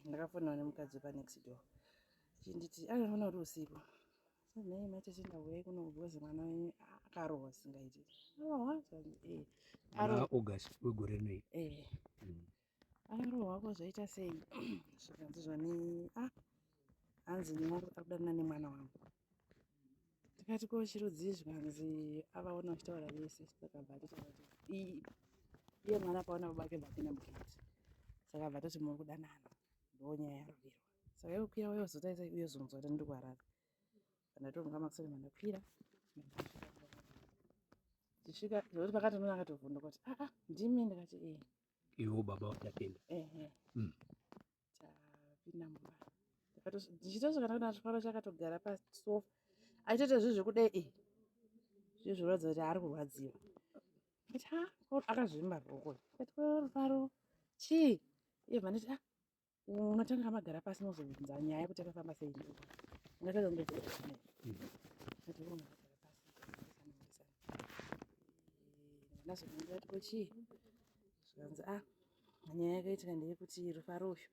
ndakafonawo nemukadzi wepa next door chinditi akanofona kuti usiku nhai mai tete ndauya kuno kugozi mwana wenyu akarohwa singaiti august wegore rinoi akarohwa ko zvaita sei zvikanzi zvani ah hanzi ndinongoda kudanana nemwana wangu tikati ko chirudzii zvikanzi avaona vachitaura vese takabva iye mwana akaona babake vapinda mugate saka bva toti muri kudanana ndonyaya yarovirwa saka iwe kuya uyozotaisa uyozonzwa kuti ndiri kuharare pandatonga makusati mandakwira tichisvika zvekuti pakatonoona akatovhunduka kuti aa ndimi ndikati ee iwo baba vachapinda ehe hmm. tapinda mumba ndichitosvika ndaona chifaro chakatogara pasofa aitoita zvinhu zvekudai e zvinhu zviratidza kuti ari kurwadziwa ati ha akazvimba roko ati rufaro chii iye vanditi a unotanga magara pasi mozobvunza nyaya yekuti akafamba sei ungatadza kundoaazondiati ko chii zvikanzi a ah, nyaya yakaitika ndeyekuti rufaro uyu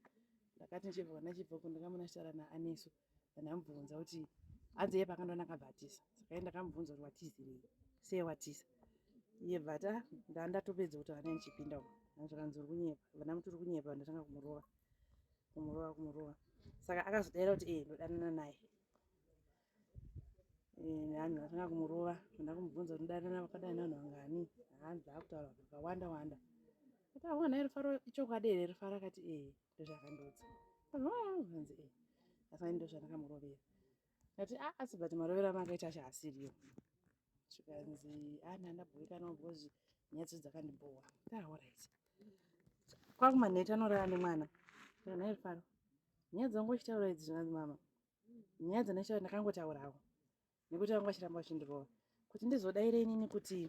ndakati ndichibva kana chibva uko ndakamona chitara naanesu ndandamubvunza kuti hanzi iye pakandoona akabva atiza saka iye ndakamubvunza kuti watizirei sei watiza iye bvata ndaa ndatopedza kuti vana ndichipinda uko anzvakanzi uri kunyepa vana muti uri kunyepa ndatanga kumurova kumurova kumurova saka akazodaira kuti ee ndodanana naye hanzi atanga kumurova nda kumubvunza kuti ndarana vakadai nanhu vangani hanzi akutaura vakawanda wanda kuti aona ah, rufaro ichokwadi here rufaro akati e eh, ndozvakandiudza hanzi e eh, asani ndozvandakamurovera ati a ah, asi but marovero amakaita acho asiriyo zvikanzi ana ah, ndabhoikana because nyaya dzedu dzakandibhowa taorit kwakumanheta anorara nemwana kana rufaro nyaya dzangu uchitaura idzi zvikanzi mama nyaya dzanashara ndakangotaurawo nekuti vanga vachiramba vachindirova kuti ndizodaire inini kuti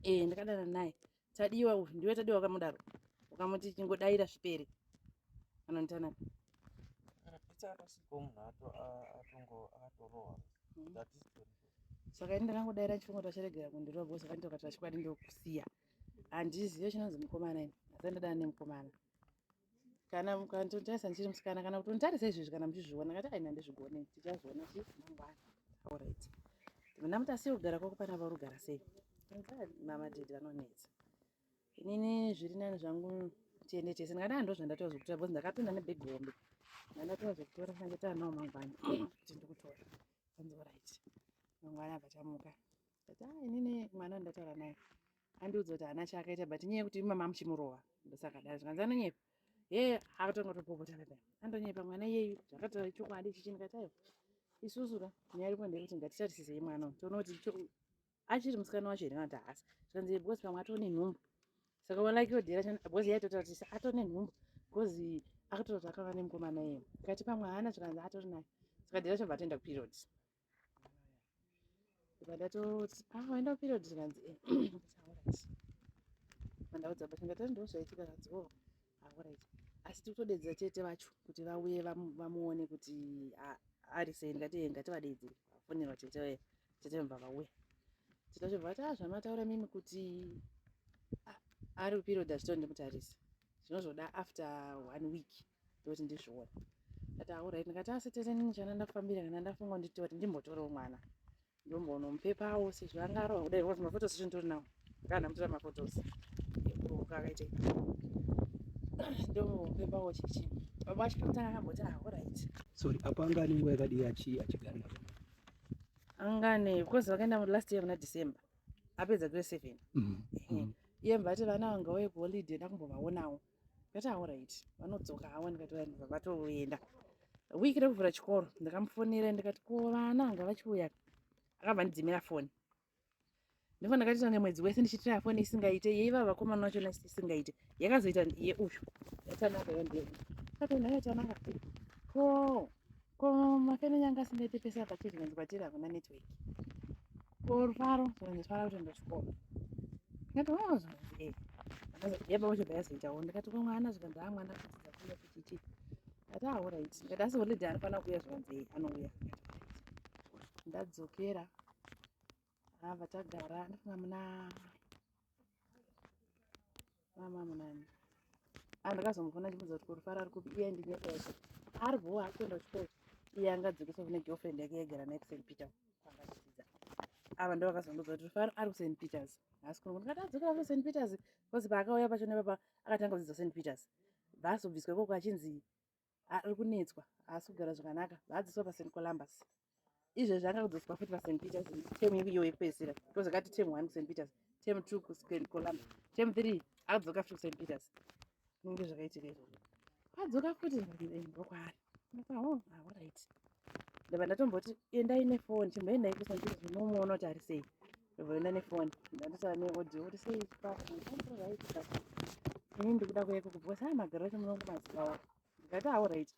ee ndakadana naye tadiwa uyu ndiwe tadiwa wakamudaro ukamuti chingodaira zvipere anonditanaka saka ini ndakangodaira chifungo tacharegera kundirova bhosi akanditi wakati vachikwadi ndokusiya handizive chinonzi mukomana ini asi ndadana nemukomana kana mukanditarisa ndichiri musikana kana kuti unditarisa izvezvi kana muchizviona ngati aina ndizvigone tichazviona ti mangwana aurit mna muti asi kugara kwako pana vari kugara sei mama did vanonetsa inini zviri nani zvangu tiende tese ndingadai ndo zvandatoa zvekutora bcoz ndakapinda nebheg hombe ndandatoa zvekutora ndangetoa nawo mangwana kuti ndikutora anzi orit mangwana abva tamuka ati a ah, inini mwana wandataura naye andiudza kuti haana chaakaita but nyaya yekuti imama muchimurova ndosakadaro zvikanzi anonyepa he akatanga kutopopota pepe andonyepa mwana iyeyu zvakataura chokwadi ichichi ndikati aiwa isusu ka nyaya iripo ndeyekuti ngatitarisisei mwana uyu toona kuti achiri musikana wacho here vanati haasi zvikanzi because pamwe atone nhumbu saka walakiwo dhira chana because yaitotarisisa atone nhumbu because akatotaura kuti akava nemukomana iye kati pamwe haana zvikanzi atori naye saka dhira chobva atoenda kuperiod Ndikatoti pamboenda period zvikanzi eh alright. Mandaudza but ndati ndozvaitika zvanzi oh alright. Asi tikutodedza tete vacho kuti vauye vamuone kuti ari sei ndikati eh, ngativadedzere. Vafonerwa tete vaye tete vabva vauya. Tete vacho vati ah zvamataura mimi kuti ari period achitondi mutarisa. Zvinozvoda after one week. ndoti ndizvione ndati aurai ndikati asi tete nini chana ndafambira kana ndafunga nditi kuti ndimbotorewo mwana ndombonomupepawo sezvo anga arova kudai was mafotos echo nditori nawo kana ndamutora mafotos ekuroka akaita ndomupepawo chichi baba vacho pakutanga akamboti aurait ah, sorry apo anga ane nguva yakadii achigara navo anga ane because vakaenda last year muna december apedza grade seven mm, mm. iye mbati vana vanga uye kuholiday ndakumbovaonawo ndikati aorit vanodzoka hawa ndikati vanhu vavatoenda wiki rekuvhura chikoro ndakamufonera ndikati ko vana anga vachiuya akabva ndidzimira foni ndipo ndakatita nemwedzi wese ndichitira foni isingaite yeiva vakomana vachona isingaite yakazoita yeuyu yatanaka yandei katonhayo tanaka ko Ko mafeno nyanga asingaite pese apa tizvinonzi kwatiri hakuna network. Ko rufaro zvinonzi fara kuti ndochikoro. Ndikati wao zvinonzi eh. Yaba wacho bayazoitawo ndikati ko mwana zvikanzi haa mwana kudzidza kuya kuti chii. Ndati ah alright. Ndikati asi holiday anofana kuuya zvikanzi eh anouya. Ndadzokera Ah, vachagara ndifuna muna mama munani ah, ndakazomufona ndimudza kuti kurufara ari kupi iye ndinyeesha ari bhowa ari kuenda kuchikoro iye angadzokesa kune girlfriend yake yagara naye kusaint peter kwangadzidza ava ndo vakazondoza kuti rufaro ari kusaint peters haasi kuno ndikati adzokera kuno saint peters bcause paakauya pacho nepapa akatanga kudzidza saint peters vasobviswa ikoko achinzi ari kunetswa haasi kugara zvakanaka vaadziswa pasaint columbus izvezvi anga kudzoswa futi pasaint peters tem iyo yekupedzisira because akati tem one kusaint peters tem two kusaint columbus tem three akudzoka futi kusaint peters kunenge zvakaitika izvo adzoka futi ndokwaari ndakwaorit ndaba ndatomboti endai nefoni chimboendai kusaint peters unomuona kuti ari sei Ndoenda nefoni ndandisara neaudio kuti sei chikafu ini ndikuda kuyeko kubva sai magaro acho munongo mazivawo ndikati awo right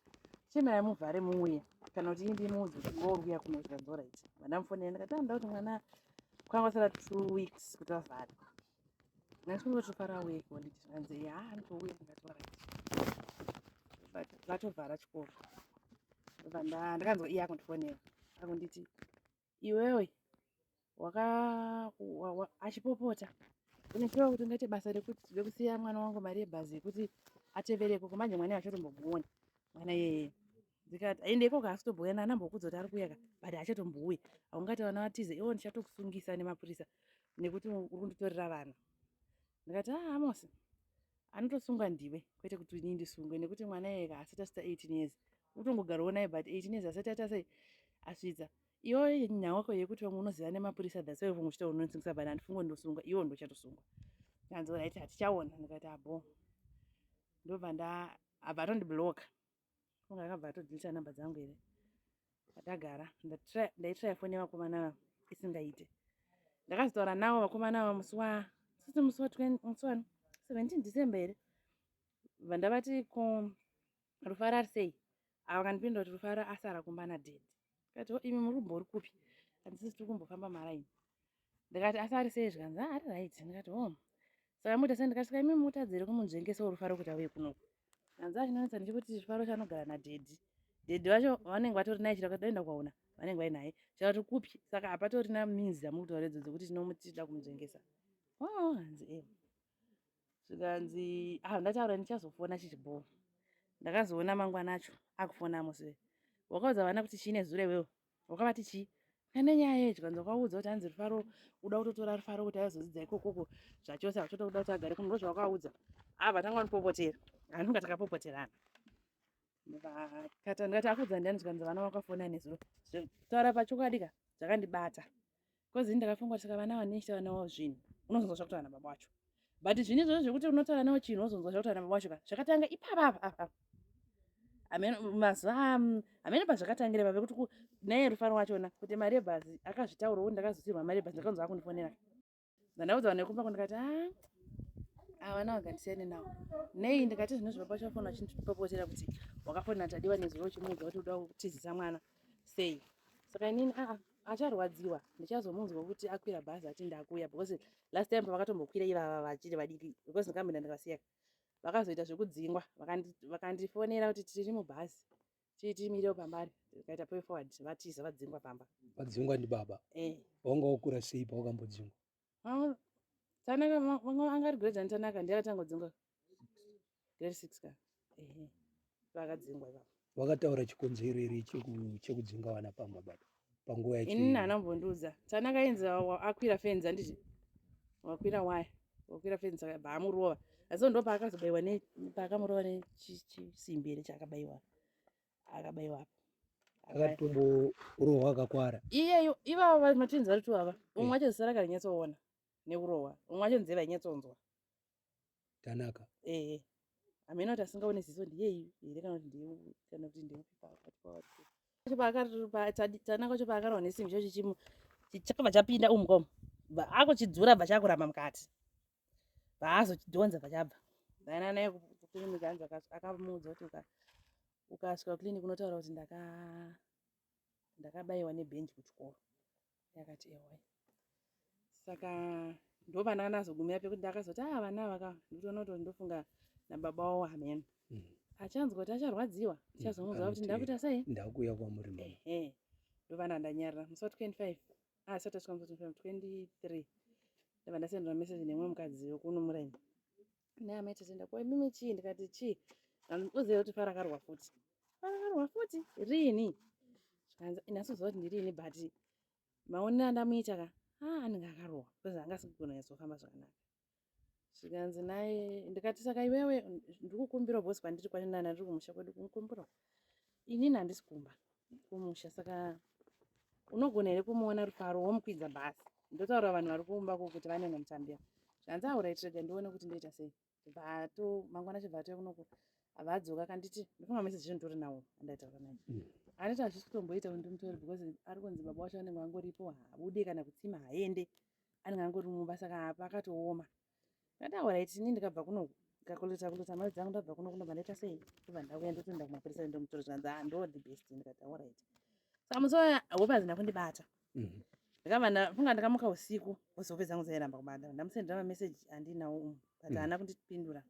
chemai muvhare muuye kana kuti indi muudzi kuti ngouya kuno zvikanzi orit vandamufonera ndikati anoda kuti mwana kwanga kusara two weeks kuti vavhare ndandikungotofara weko nditi zvikanzi ya anotouya ndikati orit vatovhara chikoro vandakanzwa iye akundifonera akunditi iwewe waka achipopota unopiwa kuti ungaite basa rekuti tide kusiya mwana wangu mari yebhazi yekuti atevereko kumanje mwana achatombomboona mwana yeye ndikati aende ikoko asitobhuya nana mbokudza kuti ari kuyaka but achatombouya aungati vana vatize iwo ndichatokusungisa nemapurisa nekuti uri kunditorera vana ndikati aa ah, amosi Anotosungwa ndiwe kwete kuti inini ndisungwe nekuti mwana iyeka haasati asvitsa 18 years. Utongogarwawo naye but 18 years asati ata sei asvitsa. Iwe nyaya wako yekuti vamwe unoziva nemapurisa that's why vamwe uchitaura unonzingisa but handifungwe ndosungwa iwe ndochatosungwa. Hanzi right hatichaona ndikati abo. Ndobva nda abva atondiblocker. kunge akabva atodilita number dzangu here ndagara ndaitraya foni yevakomana ava isingaite ndakazotaura navo vakomana ava musi wa sisi musi wa musi wani seventeen december here vandavati ko rufaro ari sei ava kandipinda kuti rufaro asara kumba nadedi ndikati oh, imi muri kumbori kupi handisisi tiri kumbofamba maraini ndikati asi ari sei zvikanzi ah, ari right ndikati oh saka muita sei ndikati saka imi mutadzire kumunzvengesa urufaro kuti auye kunoku hanzi achinonetsa ndichikuti chifaro chanogara nadhedhi dhedhi vacho vanenge vatori naye chiraka toenda kwaona vanenge vai naye chakati kupi saka hapatorina minzi dzamuri kutaura idzo dzekuti tinomuti tida kumudzvengesa oh, hanzi e zvikanzi ah ndataura ndichazofona chichibhowa ndakazoona mangwana acho akufona mose wakaudza vana kuti chii nezuro iwewo wakavati chii pane nyaya yeyi zvikanzi wakaudza kuti hanzi rufaro uda kutotora rufaro kuti azodzidza ikokoko zvachose akutoda kuda kuti agare kuno ndozvawakaudza ah vatanga vanopopotera anonga takapopoterana vakata ndikati akuudza ndiani zvikanzi vana vakafona nezuro taura pachokwadi ka zvakandibata bcause ini ndakafunga kuti saka vana vanechitaura navo zvinhu unozonzwa zvakutaura nababa wacho but zvine izvozvo zvekuti unotaura navo chinhu unozonzwa zvakutaura nababa wacho ka zvakatanga ipapa apa apa mazuva hamene mm, pazvakatangira pave kuti naye rufaro wachona kuti mari yebhazi akazvitaurawo ndakazotirwa mari yebhazi ndakanzwa akundifonera ndandaudza vanhu vekumba kundikati a ah, havana vagandisiyane navo nei ndikati zvino zvino pacho vafona vachindipopotera kuti wakafonera tadiwa nezuro uchimuudza kuti uda kutizisa mwana sei saka inini aa ah, ah, acharwadziwa ndichazomunzwa kuti akwira bhazi ati ndakuya because last time pavakatombokwira ivava vachiri vadiki because ndikambinda ndikasiyaka vakazoita zvekudzingwa vakandifonera kuti tiri mubhazi titimire pambari tikaita pay forward vatiza vadzingwa pamba vadzingwa ndi baba eh wanga wakura sei pawakambodzingwa ah tanaka vanga anga ri grade tanaka ndiye akatanga kudzingwa grade 6 ka eh vakadzingwa baba wakataura chikonzero iri chekudzinga vana pamba baba panguva yacho ini hana mbondiudza tanaka yenza akwira fenzi anditi wakwira waya wakwira fenzi akaba amurova asi ndo paakazobaiwa ne paakamurova nechisimbi here chaakabaiwa akabaiwa apa akatombo urohwa akakwara iyeyo ivavo vamatinzi vari tu ava umwe eh. wacho zisara karinyatsoona neurohwa umwe wacho nzeve ainyatsonzwa tanaka ehe hameno kuti asingaone ziso ndiyeyu here kana kuti ndeye kana kuti ndeupi pakati pavatitanaka wacho paakarohwa nesimbi chacho chimu chakabva chapinda umu komu akuchidzura bva chakuramba mukati baazochidhonza bva chabva dainana yekuclinic anzi akamuudza kuti ukasvika kuclinic unotaura kuti ndaka ndakabaiwa nebhenji kuchikoro yakati ewa saka ndovana anazogumira pekuti ndakazoti a ah, vana ava ka ndikutoona kuti ndofunga nababa wavo amen mm. achanzwa kuti acharwadziwa mm. chazomuziva kuti ndakuita sei ndakuuya kwamuri ehe ndovana ndanyarira musi wa 25 asati asvika musi wa 25 23 ndava ndasendera message nemwe mukadzi wekuno muraini naye amai tatenda ko imimi chii ndikati chii uzive kuti farakarwa futi farakarwa futi riini zvikanzi nhasi uziva kuti ndiriini but maonero andamuita ka ha anenge akarohwa bcause anga asikugona nyatsohamba zvakanaka zvikanzi naye ndikati saka iwewe ndiri kukumbirawo bcause kwandiri kwani nana ndiri kumusha kwedu kumukumbirawo inini handisi kumba kumusha saka unogona here kumuona rufaro womukwidza bhasi ndotaura vanhu vari kumba ko kuti vanenge mutambira zvanzi aurai tirega ndione kuti ndoita sei bvato mangwana chibva atouya kunoko avadzoka kanditi ndofunga mese zvezvo nditori nawo andaitaura naye mm. aniti hazvisi kutomboita kuti ndimutori because ari kunzi baba wacho anenge angoripo habude kana kutsima haende anenge angori mumba saka apa akatooma ndataura iti ini ndikabva kuno kakulita kulita mari dzangu ndabva kuno kunobva ndaita sei ndobva ndauya ndotoenda kumapurisa ndomutora zvanzi ah ndo the best ndikataura iti saka musi waya hope hadzina kundibata mhm. ndikabva ndafunga ndikamuka usiku bcause hope dzangu dzairamba kubata ndamusendera mameseji andinawo umu but mhm. haana kundipindura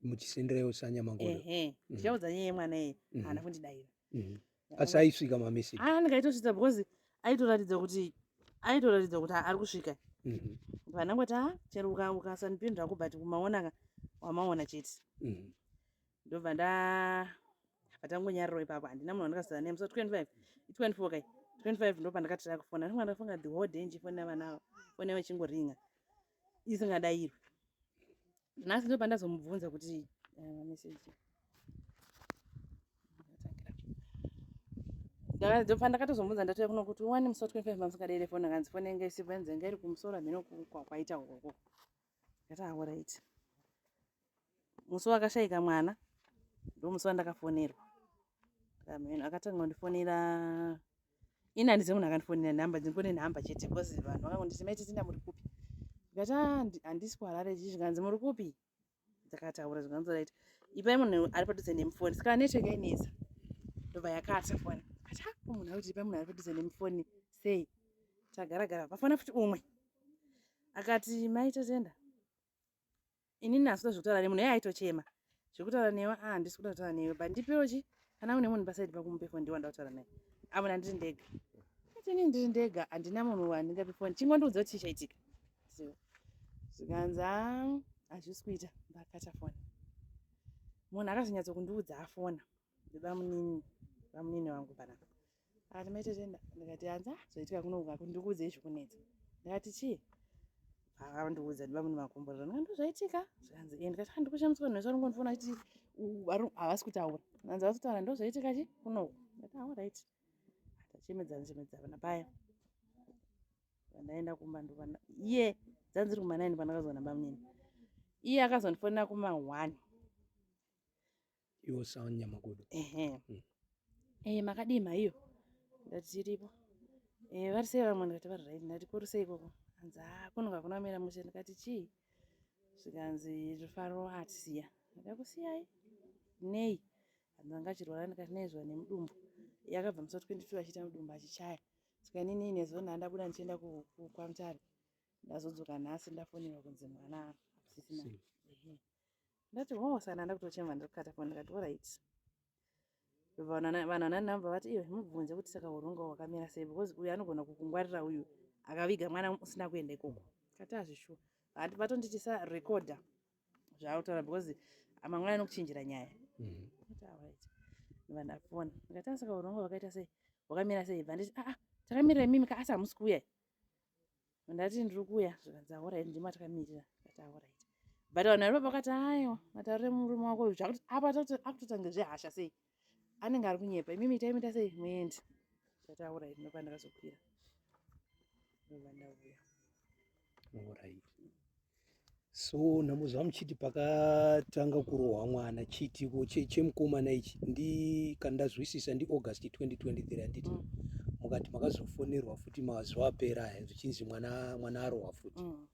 muchisenderewo sanyamangoo ehe mhm. ndichaudza nyaya yemwana iye haana kundidaira mm. asi aisvika mamessage aa ah, ndikaitosvitsa because aitoratidza kuti aitoratidza kuti ari kusvika mm-hmm. pana kuti a chero ukasanipindura ko but kumaonaka wamaona chete mm-hmm. ndobva nda patangonyariro ipapo handina munhu wandikasara naye musa 25 24 kai 25 ndo pandakatira kufona ndimwana ndafunga the whole day ndichifona vana avo fona vachingoringa isingadairwe nhasi ndo pandazomubvunza kuti eh, meseji ndakatozomubvunza ndatouya kuno kuti wani musi watwenty five mamusikadeire foni akanzi foni yanga isipo yanzi yanga iri kumusoro hameno kwaita ukoko ndati aorit musi wakashaika mwana ndomusi wandakafonerwa amen akatanga kundifonera ini handizive munhu akandifonera nhamba dzingone nhamba chete bcause vanhu vakangonditi mai titinda muri kupi ndikati ah, handisi kuharare chii zvikanzi muri kupi dzakataura zvikanzi right ipai munhu ari padhuze nemufoni saka network yainetsa ndobva yakata foni ati ah, munhu akuti ipai munhu ari padhuze nemufoni sei tagaragara pafona futi umwe akati mai tatenda ini nasi ndozvekutaura nemunhu yeye aitochema zvekutaura newe ah ndisi kuda kutaura newe but ndipewo chi kana une munhu pasaidi pako mupe foni ndiwanda kutaura naye amuna ndiri ndega atini ndiri ndega handina munhu wandingape foni chingondiudza kuti chichaitika zvikanzi ah, hazvisi kuita ndakata foni munhu akazonyatso kundiudza afona ndoda munini vamunini vangu panapa akati mai tete ndikati hanzi ah zvoitika kuno kungaku ndikuudzei zvikunetsa ndikati chii akandiudza ndiba mune makomborero ndika ndozvaitika zvikanzi e ndikati handi kushamiswa nhu vese vanongondifona kuti havasi kutaura anzi havasi kutaura ndozvaitika chi kunoku ndikati aorit ah, tachemedzana chemedzana napaya vandaenda kumba ndoba iye dzanziri kumanaini pandakazoona bamunini iye akazondifonera kuma one iwo sound nyamagodo ehe mm. eh makadii maiyo ndati tiripo eh vari sei vamwe ndikati vari right ndati kuri sei ikoko hanzi ah kuno kakuna mira mushe ndikati chii zvikanzi rufaro atisiya ndakakusiyai nei hanzi vanga achirwara ndikati nei zviva nemudumbu yakabva musa 22 achiita mudumbu achichaya saka inini inezuva ndandabuda ndichienda kwamutare ndazodzoka nhasi ndafonerwa kunzi mwana asisina ndati hoo sana ndakutochema ndakukata foni ndikati orit vanhu vana number vati iyo mubvunze kuti saka uronga wakamira sei because uyu anogona kukungwarira uyu akaviga mwana usina kuenda ikoko kati azvishuwa hati vatonditi sa recorder zvaakutaura because amangwana anokuchinjira nyaya mm-hmm. vana foni ndikati asaka uronga wakaita sei wakamira sei bva nditi aa ah, ah, takamira imimi ka asi hamusi kuuya ndati ndiri kuuya zvikanzi aorit ndima takamirira ndati aorit but vanhu vari papa vakati aiwa mataurire murume wako uyu zvakuti apa akutotange zvehasha sei anenge ari kunyepa imimi itaimita sei muendi ndati aorit ndopa ndakazokwira ndobva ndauya orit so nhamo zvamuchiti pakatanga kurohwa mwana chiitiko chemukomana ichi ndi kana ndazwisisa ndi august 2023 handiti mm. mukati makazofonerwa futi mazuva apera aya zvichinzi mwana mwana arohwa futi mm.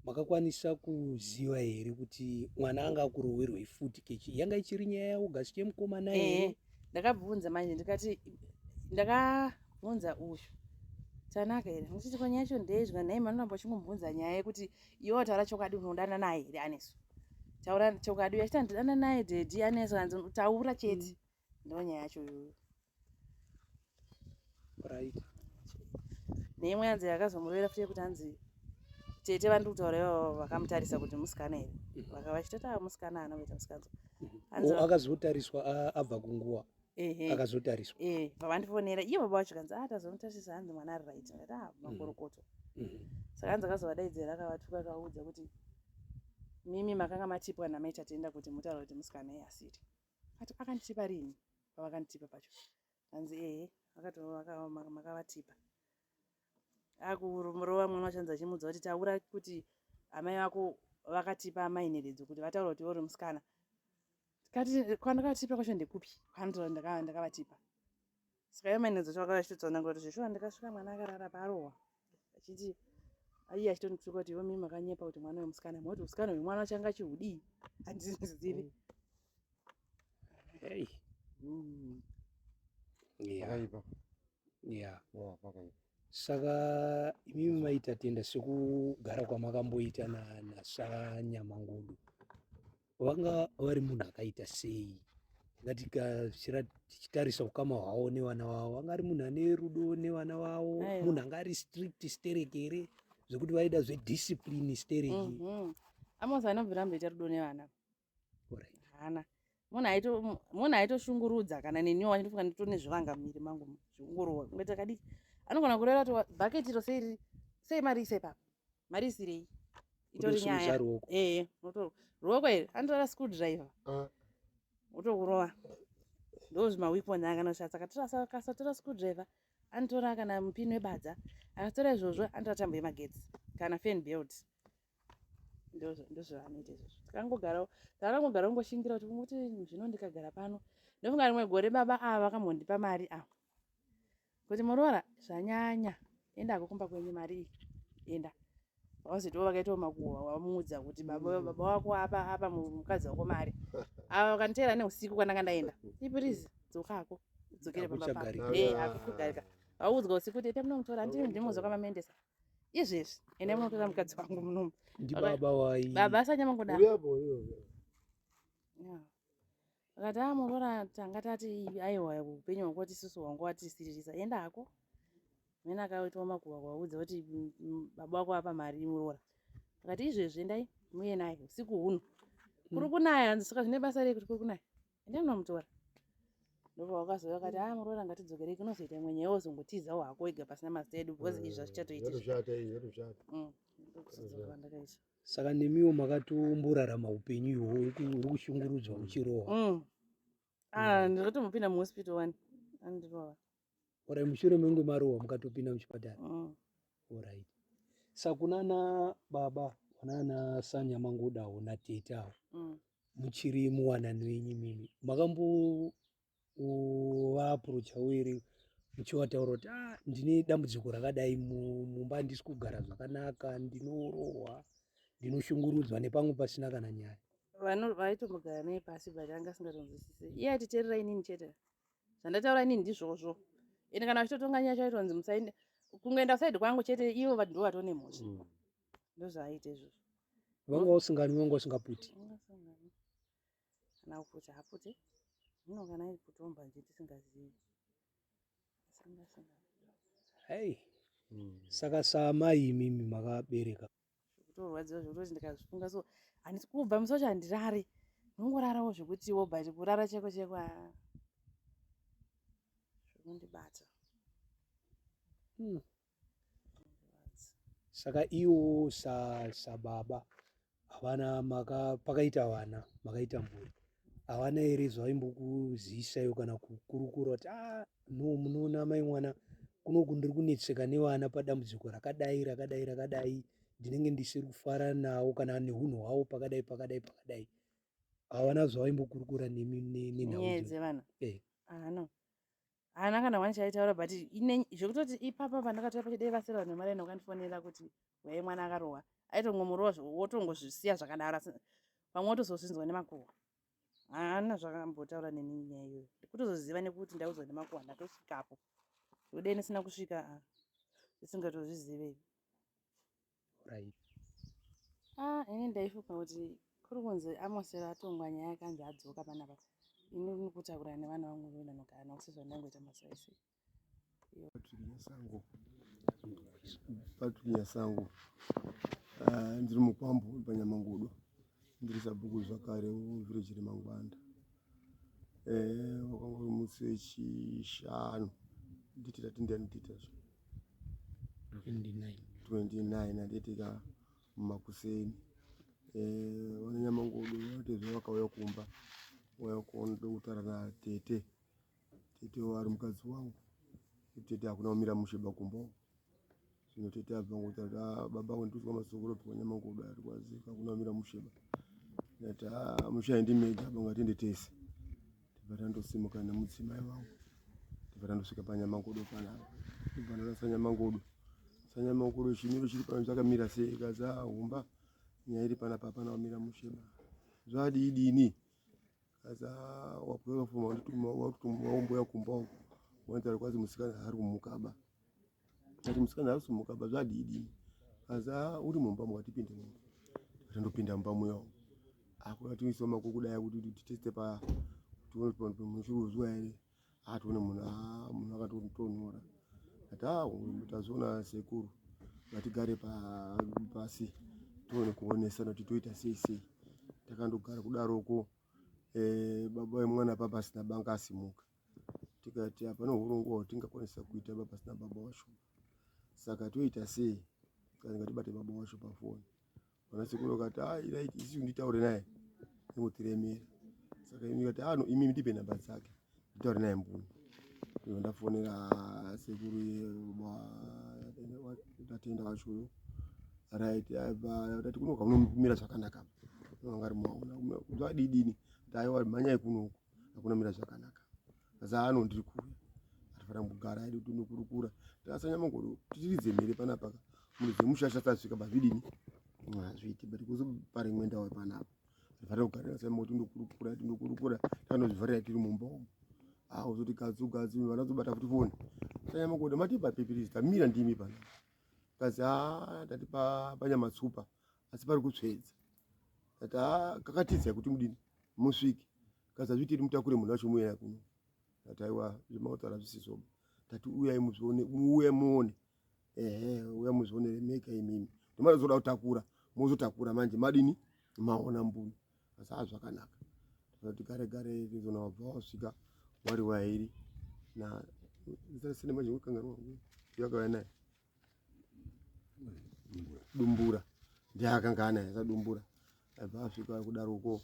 makakwanisa kuziva here kuti mwana anga akurohwerwei futi kechi yanga ichiri nyaya yaaugust yemukomana here eh. ndakabvunza manje ndikati ndakabvunza uyu tanaka here ndichiti kwanya yacho ndeizwa nhai manoramba uchingombvunza nyaya yekuti iwo taura chokwadi unodana naye here aneso taura chokwadi uyo achita ndidana naye dedi aneso anzi taura chete mm. ndonyaya yacho iyoyo right neimwe yanzi yakazomurevera futi yekuti hanzi tete vandiri kutaura ivavo vakamutarisa kuti musikana here mhm. vakava vachitoti ava ah, musikana ana kuita musikanzwa mhm. oh, akazotariswa abva kunguva akazotariswa pavandifonera iye baba vacho kanzi atazomutarisa ah, hanzi mwana ari right ngati a ah, mhm. makorokoto saka hanzi akazovadaidzira akavatuka akaudza kuti mimi makanga matipwa namaita tenda kuti mutaura kuti musikana iye asiri ati akanditipa rini pavakanditipa pacho hanzi ehe vakati makavatipa akurova mwana wachanzi achimudza kuti taura kuti amai vako vakatipa amai nheredzo kuti vataura kuti uri musikana kati kwandakatipa kwacho ndekupi kwanditora ndakavatipa saka yamai nheredzo chavakava chitotsanangura kuti zveshuwa ndikasvika mwana akarara parohwa achiti aiye achitondikuseka kuti ivo mimi makanyepa kuti mwana wemusikana moti usikana hwemwana changa chihudii handizizivi hey. mm. yeah. yeah. yeah, saka imimi maita tenda sekugara kwamakamboita nasaranyamangudu vanga vari munhu akaita sei ngatikasvira tichitarisa ukama hwavo nevana vavo vanga ari munhu ane rudo nevana vavo munhu anga ari strict sterek here zvekuti vaida zvediscipline sterek mm -hmm. amos anobvira mboita rudo nevana hana munhu aitoshungurudza kana neniwo achitofunga ndito nezvivanga mumiri mangu zviungurova kunge takadiki anogona kureva kuti bhaketi iro sei mari isepapa mari isirei itori nyaya ee unotorwa ruoko here anotora school driver ah. unotokurova ndozvimaweapon akanoshatsa akasatora school driver anotora kana mupini webadza akatora izvozvo anotora tambo yemagetsi kana fan belt ndozvavanoita izvozvo takangogarawo takangogara kungoshingira kuti kuti zvino ndikagara pano ndofunga rimwe gore baba ava vakambondipa mari ava kuti muroora zvanyanya enda hako kumba kwenyu mari iyi enda vakazoitawo vakaitawo makuhwa wamuudza kuti baba mm. baba wako apa apa mukadzi wako mari ava vakaniteera neusiku kwandanga ndaenda ipirizi dzokako dzokere pamba pako e akukugarika vaudzwa usiku kuti ita munomutora ndii ndimuzwa kwamamendesa izvezvi ende munotora mukadzi wangu munomu ndibaba wai baba asanyamangodaa akati a ah, muroora tanga tati aiwa upenyu hwangu watisusu hwangu watisiririsa enda hako mene akaitwa makuva kuvaudza kuti mm, mm, baba wako apa mari muroora akati izvezvi endai muye naye usiku huno kuri kunaya hanzi saka zvine basa rei kuti kuri kunaya endai munomutora ndopavakazouya akati a ah, muroora ngatidzokerei kunozoita imwe nyaya wozongotizawo hako wega pasina mazita edu because izvi zvazvichatoitisvatoshata mm, ndokuzodzoka pandakaita saka nemiwo makatomborarama upenyu ihwo uri kushungurudzwa uchirohwa mm. ah, mm. ndikatombopinda muhospital wani andirova orai mushure menge marohwa mukatopinda muchipatara mm. orit sakunana baba vanana sanyamangodawo natete awo muchiri muwanani wenyu mimi makambo uvaapproacha uiri muchiwataura kuti ah, ndine dambudziko rakadai mumba handisi kugara zvakanaka ndinorohwa ndinoshungurudzwa nepamwe pasina kana nyaya vaitombogara naye pasi but anga asingatonzwisise iye atiterera inini chete zvandataura inini ndizvozvo ende kana vachitotonga nyaya chaitonzi musaende kungoenda kusaidi kwangu chete ivo vanhu ndo vatone mhosva mm. ndozvaaita izvozvo vanga usinganwi vanga usingaputi kana kuputsa haputse zvino kana kutomba nje tisingazivi hei hmm. saka saamai imimi makabereka kutorwadziwa zvekutoti ndikazvifunga so handisi kubva musi wacho handirari ndongorarawo zvekutiwo but kurara cheko cheko ah. zvekundibata hmm. saka iwo sababa havana maka pakaita vana makaita mhuri havana here zvaimbokuziisaiwo kana kukurukura kuti ah, no munoona mai mwana kunoku ndiri kunetseka nevana padambudziko rakadai rakadai rakadai ndinenge ndisiri kufara nawo kana neunhu hwawo pakadai pakadai pakadai havana zvavaimbokurukura nenhau dzevana eh. ah, no haana kana wani chaitaura but zvekutoti ipapa pandakatouya pachidei vasiri vanhu vemari enda ukandifonera kuti wai mwana akarohwa aitongomurova wotongozvisiya zvakadaro asi pamwe wotozozvinzwa nemakuhwa haana zvakambotaura neni nyaya iyoyo ndikutozoziva nekuti ndaudzwa nemakuhwa ndatosvikapo zvekudei ndisina kusvika ah, isingatozvizive right ah ini ndaifunga kuti kuri kunzi amosero atongwa nyaya akanzi adzoka panapa ini ndikutaura nevana vangu voenda nogara navo sezvo ndangoita masaisi patrick nyasango ah, ndiri mukwambo panyamangudo ndiri sabhuku zvakare village remangwanda eh, wakanga uri musi wechishanu nditi tati ndiani tiita zvo 29 andiitika makuseni eh, vananyamangodo vatezve vakauya kumba waya kuona dokutara na tete Tete wari mukadzi wangu. Tete hakuna kumira mushe bakumba uko. Zvino tete abva ngokuti ati ah, baba wangu ndikuzwa masoko ropiwa nyama ngokuda ari kwazi hakuna kumira mushe ba. Ndati ah, mushe haindi mega baba ngatende tese. Tibva tandosimuka nemudzimai wangu. Tibva tandosvika panyama ngodo pana. Tibva ndarasa nyama ngodo. Sanyama ngodo chimiro chiri pano chakamira sei kaza ah, humba. Nyaya iri pana papa na kumira mushe ba. Zvadii dini? wakutomaumbuya kumba uku wanzara kwazi musikana haari kumukaba ati musikana haasi kumukaba zvadidii asi a uri mumba mwatipinde mumba tandopinda mumba muya umu akuna tiisoma kokudaya kuti titeste pa tione kuti pano pemuchuruzwa here atoone munhu haa munhu akatotonhora ati haa uyu tazoona sekuru ngatigare pasi tione kuonesana kuti toita sei sei takandogara kudaroko eh, baba vemwana papa asina banga asimuka tikati hapana urongwa hwatingakwanisa kuita baba asina baba wacho saka toita sei kana ngatibate baba wacho pafoni Vanasekuru vakati ah, right, isi nditaure naye ingotiremera saka imi kati ano ah, imi ndipe nhamba dzake nditaure naye mbuni ivo ndafonera sekuru tatenda vachoyo right tati kunoka unomira zvakanaka angari maona zvadidini taiwa mhanyai kunoku hakuna mira zvakanaka zano ndiri kuuya atifanira kugara hedu tinokurukura tasanya mangoro titiridze mhere panapa ka munhu dzemushasha tasvika pazvidini hazviiti but kuzo pari imwe ndawo panapa atifanira kugara tasanya mangoro tinokurukura tinokurukura tanozvivharira tiri mumba umu awo zoti kazi ugazi vana zobata futi foni sanya mangoro matipa pepirizi tamira ndimi panapa kazi haa tatipa panyama tsupa asi pari kutsvedza ati ha kakatiza kuti mudini musvike kazazviti iri mutakure munhu wacho muyaya kuno ati aiwa zvemautaura zvisizoba tati uyai muzvione muuye muone ehe uya muzvione remeka imimi ndimana zoda kutakura mozotakura manje madini maona mbuni asi ha zvakanaka ati gare gare rizona wabva wasvika wari wairi na zita rese nemanje wekangarwa yakauya naye dumbura ndiye akanga anaye akadumbura aibva asvika kudaro uko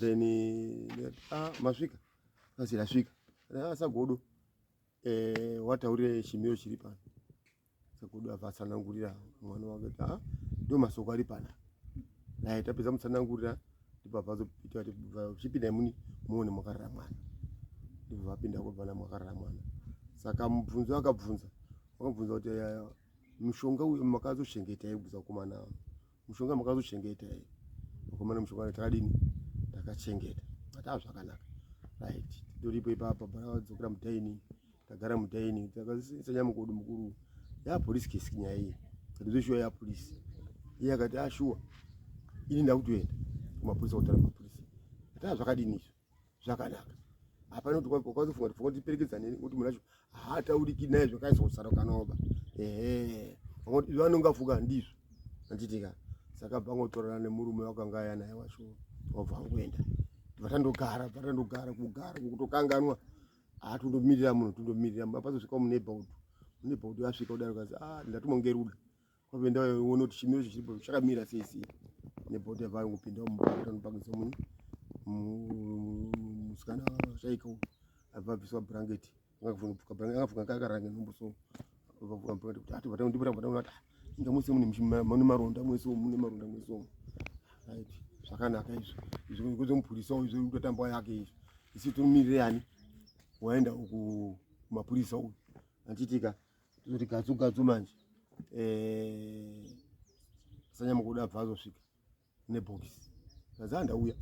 then ah, masvika asi asvika asagodo ah, eh, wataurire chimiro chiri pano sagodo abva atsanangurira mwana wake kuti ah, ndo masoko ari pana naye tapedza mutsanangurira ndipo abva azopita chipindai muni muone mwakarara mwana ndipo vapinda kobva namwakarara mwana saka mubvunzo akabvunza Wabvunza kuti yaya mushonga uyu makazochengeta here kubvunza kukomana mushonga makazochengeta here mukomana mushonga takadini takachengeta ataa zvakanaka right toripo ipapa baraadzokera mudaini tagara mudaini takasanya mukodo mukuru yapolisi kesi nyaya iyi katizoshuwa yapolisi iye akati ashuwa ah, ini ndakutoenda kumapolisi kutara mapolisi ataa zvakadini izvo zvakanaka hapana kuti wakazofunga kuti pfungwa tiperekedza neni kuti munhu wacho haatauriki naye zvakaisosarukanoba ehe vanonga funga ndizvo anditika saka bvangotorana nemurume wakanga aya naye wacho wabva wangoenda vatandogara vatandogara kugara kutokanganwa haa tondomirira munhu tondomirira apazosvika muneighborhood muneighborhood asvika kudaro kazi a ah, ndatumwa ngeruda kwave ndaona kuti chimiro chiripo chakamira sei sei nebota vave kupinda mubaanopakisa munhu musikana chaiko avabviswa bhurangeti angafunga kakaranga nhumbu so vavura bhurangeti kuti ati vatandibura vatandibura ah, inga mose mune maronda mwese mune maronda mwese omu right zvakanaka izvo izvo ngozo mupurisa uyu zviri kutotamba yake izvo isi tomirire ani waenda uku mapurisa uyu anditika toti gatsu gatsu manje eh, sanyamukuda abva azosvika nebhokisi kazi andauya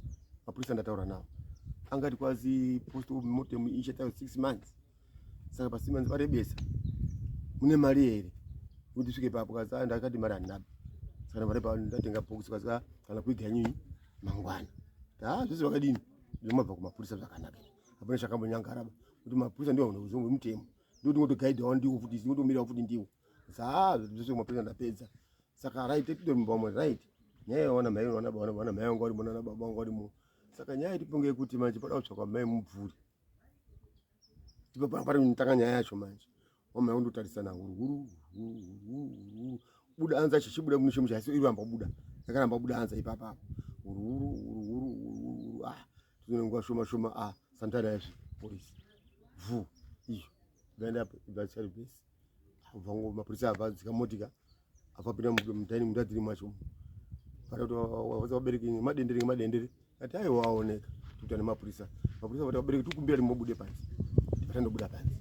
mapurisa ndataura nawo angati kwazi post of mortem ichatayo six months saka pa six months varebesa mune mari here kuti svike papo kazi ah, ndakati mari handinabi saka mari pa ndatenga bhokisi kazi ah, kana kuiga nyinyi mangwana ta zvese vakadini zvinomabva kumapurisa zvakanaka hapana chakambonyangaraba kuti mapurisa ndiwo hunozongo mutemo ndotingotogaidhawo ndiwo futi tingotomirawo futi ndiwo zaa zvese kumapedza ndapedza saka right titore mumba wamwari right nyaya yawana mai wana baba wana mai wanga uri mwana baba wanga uri mu saka nyaya tiponge kuti manje pada kutsvakwa mai mubvuri ndipo panga pari kutanga nyaya yacho manje wamai kundotarisana huruguru huruguru buda anza chichibuda kuno chimusha asi iramba kubuda yakaramba kubuda anza ipapa huruguru huruguru huruguru ah tuzvine nguva shoma shoma a ah, santana yazvi polisi vhu iyo ikaenda apo ibvasari besi vangu mapurisa abva dzika motika afapinda mudhaini munda dziri mwacho vati vabereki madendere ngemadendere ati ayi waoneka tikuita nemapurisa mapurisa vati vabereki tikumbira ti mobude panzi vatandobuda panzi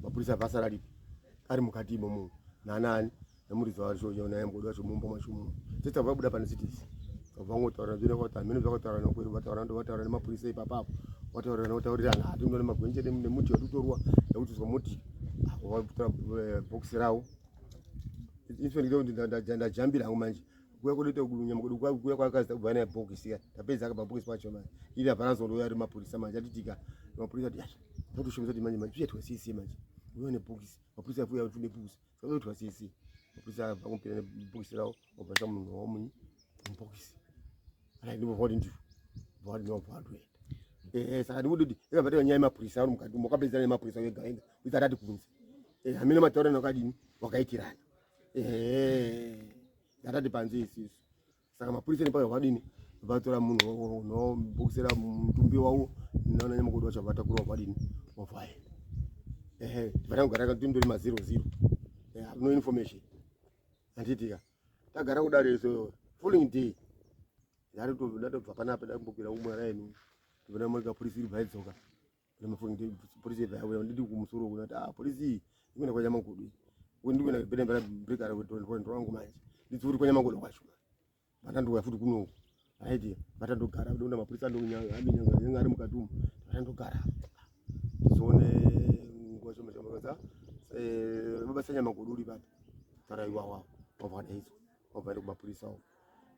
mapurisa abva asara ripi ari mukati imomo nanaani Namuridzi wacho uyo naye mgodo wacho mumba mwacho mu. Tete vabuda pane citizen. Kavango taura zvine kwa tamene zvakataura na kweri vataura ndo vataura nemapurisa ipapa apo. Vataura na vataurira na ati ndone magwenje ne muti watutorwa nekuti zwa muti. Vakutora eh, box rawo. Infinite ndo ndajanda jambira hangu manje. Kuya kunoita kudunya mgodo kwa kuya kwakaza kubva na box ya. Tapedza akaba box pacho manje. Ili hapana zondo yari mapurisa manje atitika. Mapurisa ati. Ndokushumisa kuti manje manje tuye twasisi manje. Uyo ne box. Mapurisa afuya kuti ne box. Sakaitwa sisi. Kusa vakumpira bokisi rawo obasa munhu womunyi mubokisi. Ala ndimo vodi ndivo. Vodi no vodi. Eh saka ndikuti kuti eka vatanga nyaya mapurisa ari mukati mokapedza ne mapurisa ega ega. Kuita rati kunzi. Eh hamina mataura nakadini wakaitirana. Eh. Ndatati panzi isisu. saka mapurisa nepaya vadini vatora munhu nobokisera mutumbi wavo naona nyamakoti wacho vatakura vadini wavaye ehe tivana kugara tindori mazero zero no information handiitika tagara kudaro iso following day ndatobva panapa ndakumbokira umwe raini ndivona murika purisa iri bvaidzoka polisi yebva yauya ndidi kumusoro uku ndati ah polisi iyi ikuenda kwa nyamakudu uku ndikuenda kupeta mbera break ara kutondwendo wangu manje ndidziuri kwa nyamakudu kwacho vatandouya futi kuno uku aiti vatandogara kuda mapurisa anonyanga anyanga ari mukati umu vatandogara tizoone nguva shoma shoma kaza eh, mabasa nyamakudu uri papi tara iwawa wabva kadaizwa wabva ari kumapurisa uku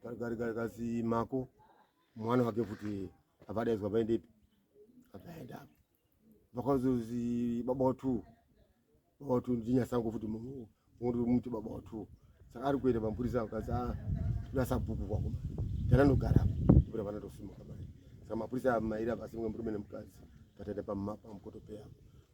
tari gari gari kazi mako mwana wake futi avadaidzwa vaendepi avaenda vakazozi baba watu baba watu ndinyasangu futi munhu muti baba watu saka ari kuenda mapurisa akazi ah, nasabhuku kwako tananogara kura vana tosimuka mai saka mapurisa mairi avasimwe murume nemukadzi pataenda pamapa mukotopeya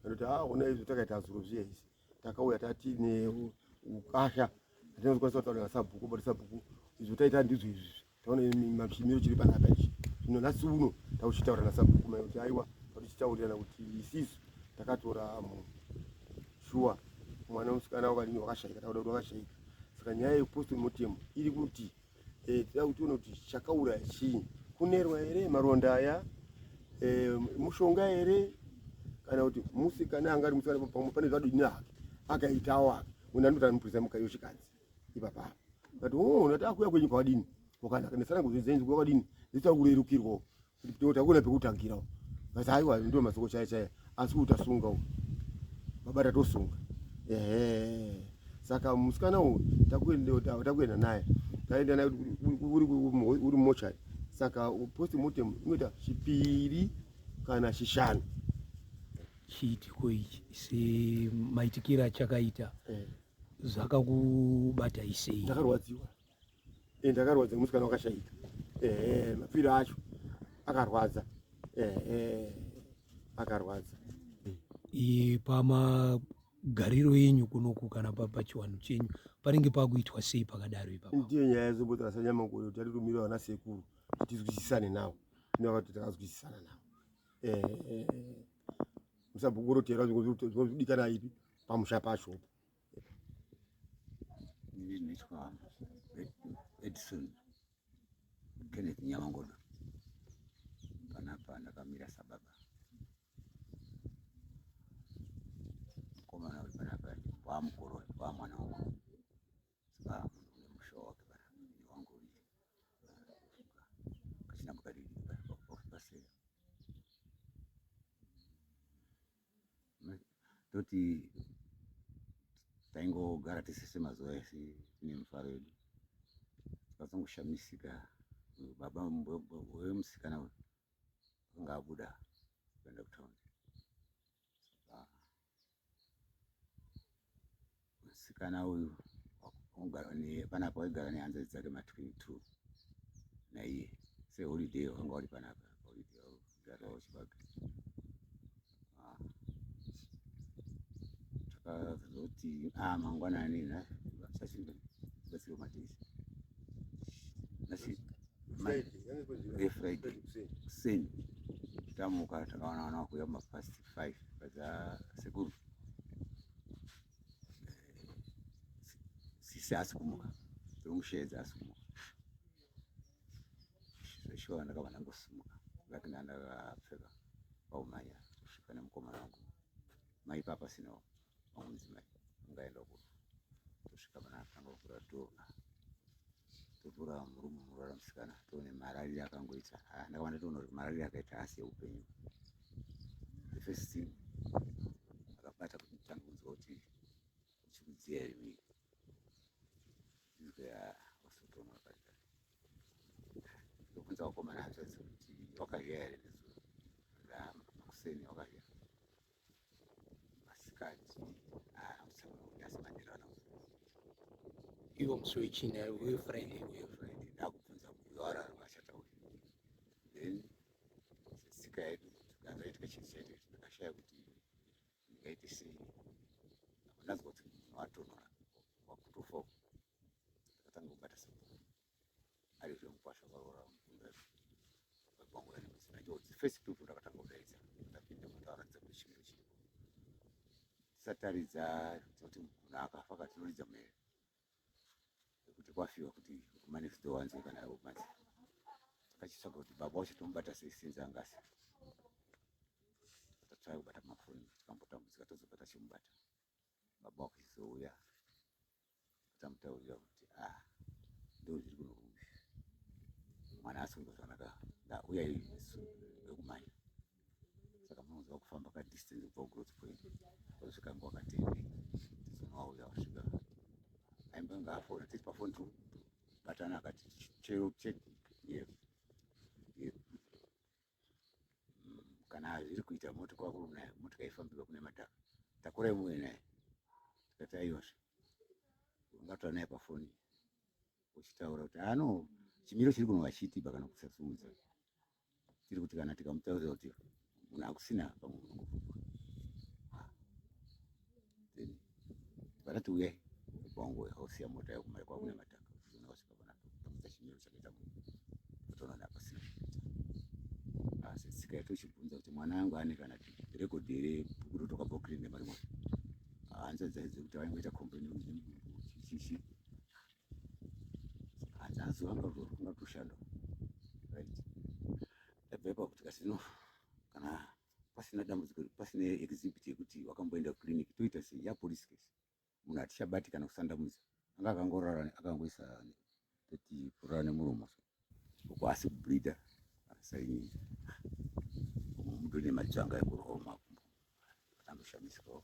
anoti ah, ona izvo takaita zuro zviya izvi takauya tati neukasha atinazokwanisa kutaura nasabhuku but sabhuku izvo taita ndizvo izvi taona chimiro chiri panapa ichi zvino nhasi uno tauchitaura nasabhuku mai kuti aiwa tatichitaurirana kuti isisu takatora munhu shuwa mwana musikana wakadini wakashaika takuda kuti wakashaika saka nyaya yekupostori motemu iri kuti eh, tida kutiona kuti chakauraya chii kunerwa here maronda aya eh, mushonga here kana kuti musikana anga ari musikana pamwe pane zvadini hake akaitawo hake unandotanopurisa mukayoshikadzi ipapa but oh nataka kuya kwenyu kwadini wakanaka nesana kuzvidza inzwi kwadini ndita kurerukirwa kuti tota kuna pekutangira but haiwa ndio masoko chaya chaya asi utasunga u baba tatosunga ehe saka musikana uyu takuenda takuenda naye taenda naye uri uri mochari saka post mortem inoita chipiri kana chishanu chiitiko ichi semaitikiro achakaita eh. zvakakubata isei ndakarwadziwa eh, ndakarwadza musikana wakashaika eh, mapiro acho akarwadza eh, eh, akarwadza eh, pamagariro enyu kunoku kana pachiwanhu chenyu panenge pakuitwa sei pakadaro ipapa ndiyo nyaya yezombotora sanyamakore kuti atitumira vana sekuru tizwisisane navo inoakati takazwisisana navo eh, eh, eh. musabugurutera zvinozodikana ipi pamusha pacho edison kenneth nyamangodo panapa ndakamira sababa mukomana uri panapa wamukuru wamwana wangu toti taingogara tisese mazuva ese nemufaro yedu tikazongoshamisika baba wemusikana uyu akanga abuda kuenda kutaundi Musikana uyu wakugara panapa waigara nehanzvadzi dzake ma 22 naiye seholiday wakanga uri panapa holiday waigara wachibaka takazoti ah mangwanani na sashinda basiro matishi nasi Friday kuseni tamuka takaona wana kuya mafasti five padzasekuru eh, sisi asi kumuka dzekumusheedza asi kumuka zveshuwa ndakabva ndangosimuka ngati ndandakapfeka paumhanya kusvika nemukomana wangu maipapa sinawo mamudzimai angaenda kuno tosvika pana atanga kuvhura toona tovhura murume muroora musikana toone mararire akangoita ah, ndakavanda toona kuti mararire akaita asi eupenyu the first thing akabata kuti tanga kunzwa kuti uchikudziya here mii izwa wasotoona akaita ndokubvunza wakomana hanzvadzi kuti wakazviya here nezuro ah, makuseni wakazviya masikati asamudasimandirana ivo musi wechina uye friday uye friday ndakubvunza uyo arara vashata uyu then setsika yedu tikanzaitika chinhu chaitu ndakashaya kuti ndingaite sei apo ndanzwa kuti munhu atonhora wakutofa uku ndakatanga kubata sabhuku ari zvemukwasha kwaroora mukunda kwangu ari musina njodzi first people ndakatanga kudaidza ndapinda mutaratidza kuti chimiro chiripo tisataridza tinoti munhu akafa ka tinoridza mhere kuti kwafiwa kuti kumanext door wanzwe kana ivo manje takachitsvaga kuti baba wacho tomubata sei sinzi angasi tatsvaya kubata mafoni tikambotambudzika tozobva tachimubata baba wakuchizouya ndichamutaurira kuti ah ndozviri kuno mwana asungwa zvakanaka ndauya isu vekumanya saka munoziva kufamba ka distance kubva kugrowth point kusvika nguva katende tizonowauya wasvika aimba nga afona tiri pafoni tu batana akati chero cheki yes yes mm, kana hazviri kuita mota kwakuru nayo mota kaifambirwa kune mataka takura imuwe naye tikati aiyozve ungataura naye pafoni uchitaura kuti ano chimiro chiri kuno vachitiba kana kusasiudza tiri kuti kana tikamutaurira kuti munhu akusina pamwe unongofuka then vakati uyai kwangu hausiya mota yako mari kwakuna mataka uchiona wasvika panapo pakuita chimiro chakaita munhu utoona napasina asi ah, tsika yacho uchibvunza kuti mwana wangu ane kana rekodhi here bhuku rotoka bhokiri nemari mwana hanzi dzaidze kuti vaingoita kompleni nemudungu chichichi hanzi hanzi vanga vanga toshanda right ndabvepa kuti kasi no kana pasina dambudziko pasina exhibit yekuti wakamboenda kuclinic toita sei ya police case munhu hatichabati kana kusandamudza anga akangorara akangoisa tati kurara nemuromo so uko asi kubleeda asainyi mudone matsvanga ekuroma kumbo anoshamisikawo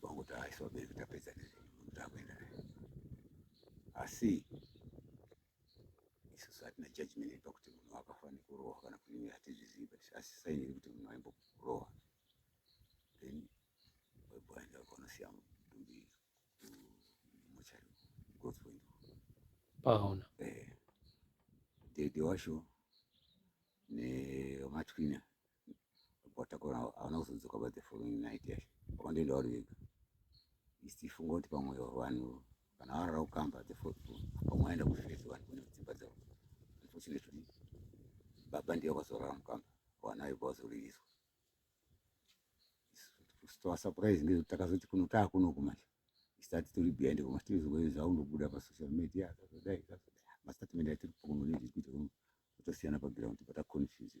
kwangu taaiso vabereki tapedza takuenda naye asi isusu hatina judgment pakuti munhu akafa nekurohwa kana kuti imwe hatizvizivi but asi saini yekuti munhu aimbokurohwa then waiboenda ukaonosiya mutumbi muchari growth point paona eh, dede wacho nematwina watakura hauna kuzodzoka but the following night yacho wakandoenda uri vega isifunga kuti pamwe vanhu kana varara kukamba pamwe aenda kufesi vanhu kune dzimba dzavo unfortunately baba ndiye vakazorara mukamba vana vaiva vazoririswa toasurprise ngezvekuti takazoti kuno taakunoku manje isati tiri behind koma tirizoe zvaundobuda pasocial media zvakadai zvakadai mastatement atiri kuno nezvekuita kuno totosiyana paground pataconfuse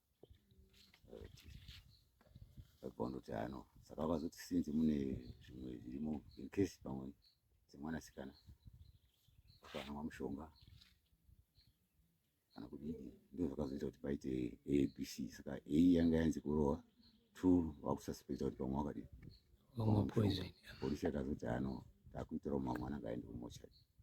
vakandoti ano saka vakazoti sinzi mune zvimwe zvirimo incase pamwe dzemwanasikana vakanwa mushonga kana kudii ndizvo zvakazoita kuti paite abc saka a yanga yanzi kurowa two vakusaspekta kuti pamwe wakadii polisi yakazoti ano takuitirawo mamwe anangaende kumochari